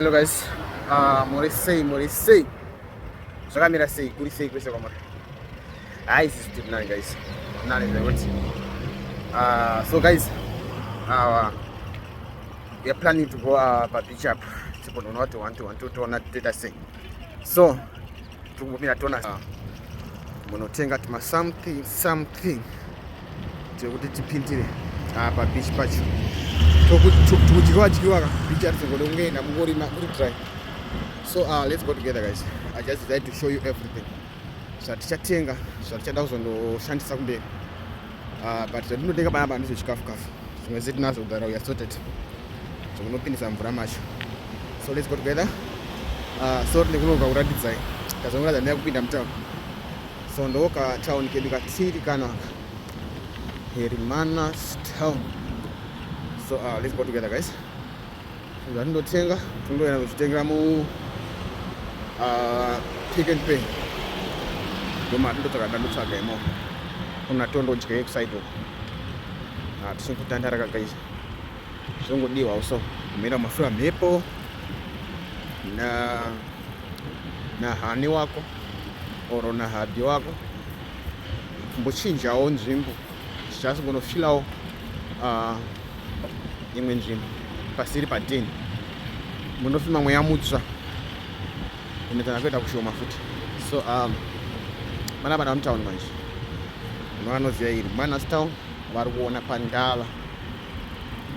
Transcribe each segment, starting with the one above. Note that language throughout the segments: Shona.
Hello guys, uh, muri sei muri sei zvakamira sei kuri sei kwese kwamuri hai sisi tiri nani guys nani zvekuti uh, so guys uh, weare planning to go uh, pabeach up tipononoti one to one totoona totoita sei so Tikumbomira tona ah. munotenga tuma something something tekuti tipindire apa ah, beach pacho tukudyiwa dyiwa ka beach arizongoda kungeenda mungorima kuri dry so uh, let's go together guys i just decided to show you everything zvatichatenga zvatichada kuzondoshandisa kumberi Ah, but zvatinotenga paya pa ndizvo chikafu kafu zvimwe zve tinazvo kugara uya sorted zvokunopindisa mvura macho so let's go together ah, so tine kunoka kuratidzai tazongoratidza ndaya kupinda mutown so ndoka town kedu katiri kanaka herimanas town so uh, let's go together guys zvatindotenga tinongoenda kuzvitengera mu ah, pick and pay ndomari ndotsvaga ndandotsvaga imo kuna tondodya yekusaido hatisini ah, kutandara kakaisa zvongodiwa uso kumira mafura mhepo na na hani wako or na hubby wako kumbochinjawo nzvimbo just gonna fill out uh, imwe nzvimbo pasiri pa 10 munofema mweya mutsva ende kana kuita kushoma futi so um, mana vana mutown manje vanoziva iri manas town vari kuona pandava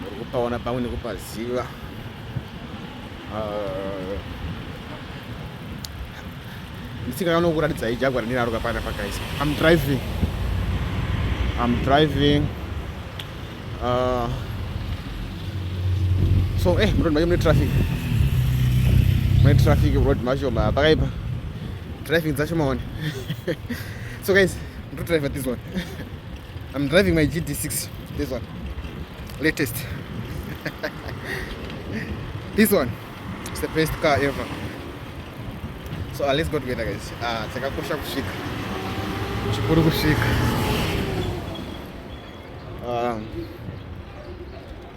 vari kupaona pamwe nekupaziva uh, ndisingaona kuratidza ijagwa randinaro kapana pakaisa am driving am driving uh, so eh mroad macho mune traffic mune traffic road macho ma pakaipa driving dzacho maone so guys ndo driver this one am driving my gd6 this one latest this one It's the best car ever. So uh, let's go together guys. Ah, uh, chakakosha kusvika. Chikuru kusvika. Um,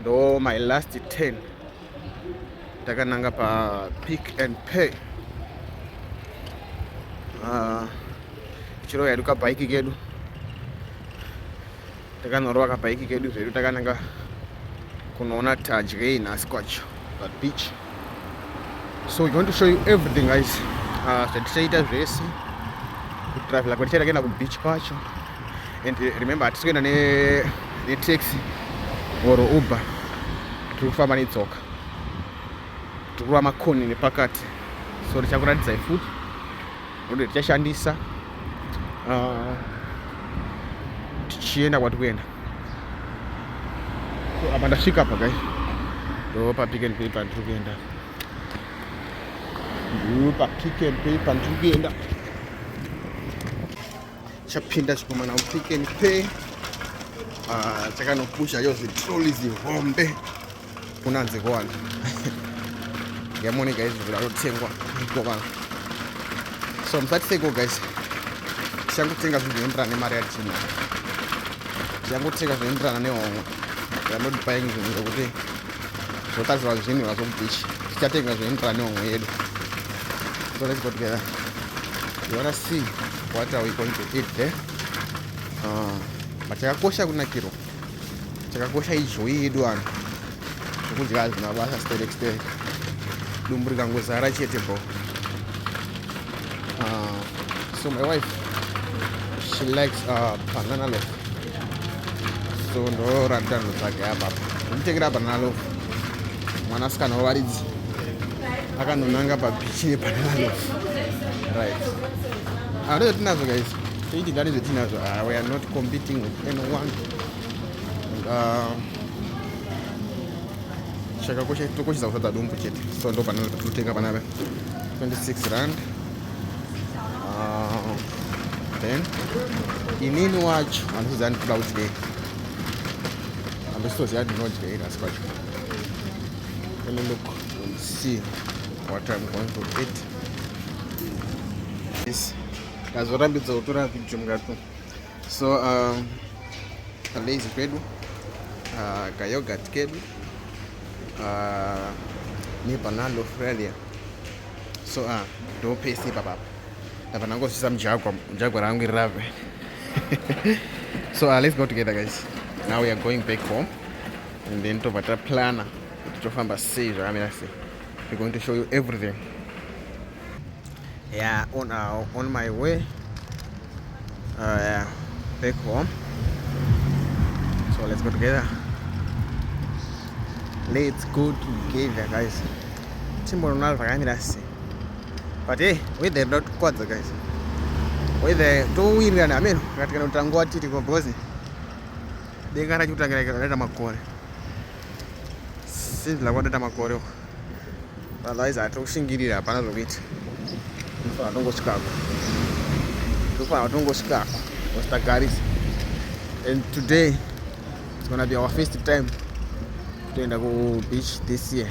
ndo my last 10 takananga pa pick and pay uh, ah, chiro yaduka bike kedu Takanorova kabhaiki kedu zvedu takananga kunoona tadye nhasi kwacho that beach so we want to show you everything guys ah, zvatichaita uh, zvese kutravela kwatichaita kuenda kubeach kwacho and eh, remember hatisi kuenda netaxi or uber tiri kufamba netsoka tiri kurova makoni nepakati so tichakuratidzai futi ndokuti tichashandisa ah, tichienda kwati kuenda apa ndasvika apa gai ndo papick and pay pandiri kuenda ndo papick and pay pandiri kuenda chapinda chikomana mupick and pay ah, chakanokusha yo zitroli zihombe kunanzi kowana yamone guys zvikuda kutengwa mukova so musati seko guys tichangotenga zvinhu zvinoenderana nemari yatiina tichangotenga zvinoenderana nehomwe vanodipaying zvinhu zvekuti zvotadzirwa zvinhu vazokubichi tichatenga zvinoenderana nehomwe yedu so let's go together you wanna see what are we going to eat there eh? uh, ah, but yakakosha kunakirwa chakakosha ijoyi yedu vanhu zvekudya hazvina basa sterek sterek dumbu rikangozara chete bho ah, so my wife she likes uh, banana loaf so ndorarita nhu dzake apapa nditengera banana loaf mwanasikana wavaridzi akanonanga pabichi nebanana loaf right anoyo ah, tinazo guys Toitigane zvetinazvo. Ah, we are not competing with anyone. And, uh, chakakosha tokoshesa kusadza dumbu chete so ndo pana totenga panapa 26 rand uh, then inini wacho handisiziva ndikuda kudyei handisitoziva ndinodyei nhasi kwacho let me look and see what i'm going to eat this ndazorambidza kutora video mukati so um, kalazy kwedu uh, kayogurt kedu uh, nebanana australia so uh, ndopese ipapapa ndabva ndangosvisa mujagwa mujagwa rangu iri rave so uh, let's go together guys now we are going back home and then tobva taplana kuti tofamba sei zvakamira sei we're going to show you everything yeah on, uh, on my way uh, yeah, back home so let's go together let's go together guys timbonona zvakamira sei but hey weather inoda kutikwadza guys weather towirirana ameno akatikana kuti tanguva tiriko because denga rachi kutangira raita makore sinzi lakwatoita makore uko otherwise hatiri kushingirira hapana zvokuita ndofana tongosvikako ndofana tongosvikako ositagarisa and today it's gonna be our first time kutoenda kubeach this year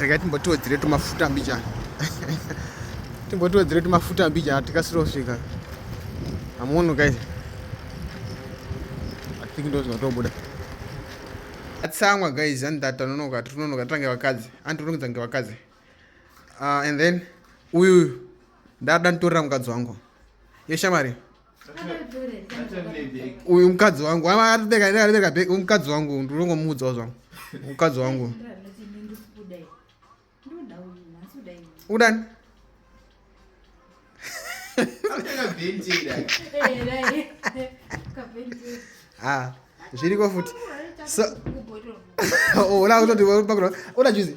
regai timbotiwedzere tumafuta mbichana timbotiwedzere tumafuta mbichana tikasire kusvika hamuoni guys i think ndo zvinotobuda atsamwa guys and that anonoka tinonoka tange vakadzi andironedza nge vakadzi uh, and then uyu uyu ndada nditorera mukadzi wangu yeshamari uyu mukadzi wangu aribeka bheki uyu mukadzi wangu ndinongomuudzawo zvangu mukadzi wangu udani ah, zviriko futi so oh, uda kutoti uda juzi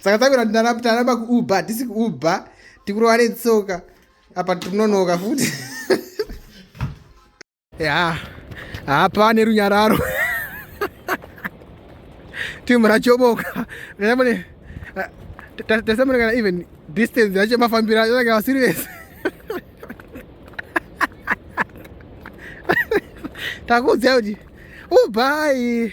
tsakatsakwira ndaramba kuuber tisi kuuber tikurova netsoka apa tinonoka futi ya hapa nerunyararo timu rachoboka namune tasamune kana even distance yacho mafambiro acho kana vasiri vese takuudzai kuti ubai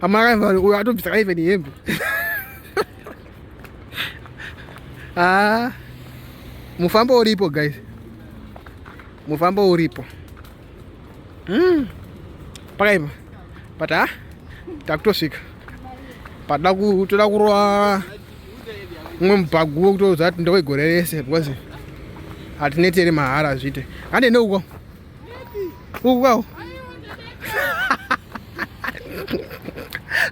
Amara vanhu uyo atobvisa ka even hembe. Ah. Mufambo uripo guys. Mufambo uripo. Mm. Pakaipa. Pata takutosvika. Pada kutoda kurova umwe mubhagu wekutoudza kuti ndewegore rese because hatineteri mahara zvite. Hande neuko. Wow.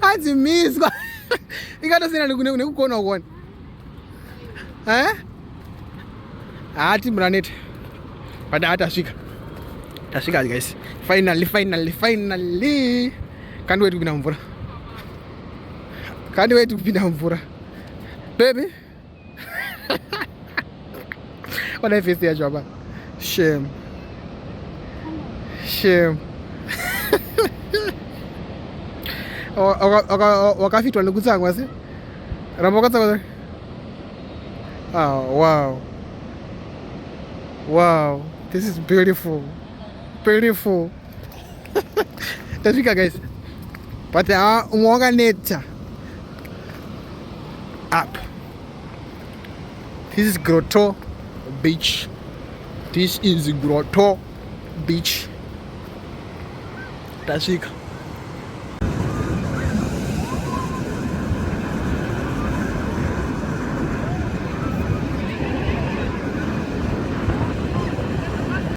Hanzi miswa. Ingatosiyana nekukona kuona. Eh? Hati mranete. Pada hata shika. Tashika guys. Finally, finally, finally. Can't wait to be down for. Can't wait to be down for. Baby. Onai face yacho apa. Shame. Shame. wakafitwa nekutsamwa se ramba wakatsamwa ah, wow wow this is beautiful beautiful tasvika guys but ha umwe wakaneta up this is grotto beach this is grotto beach tasvika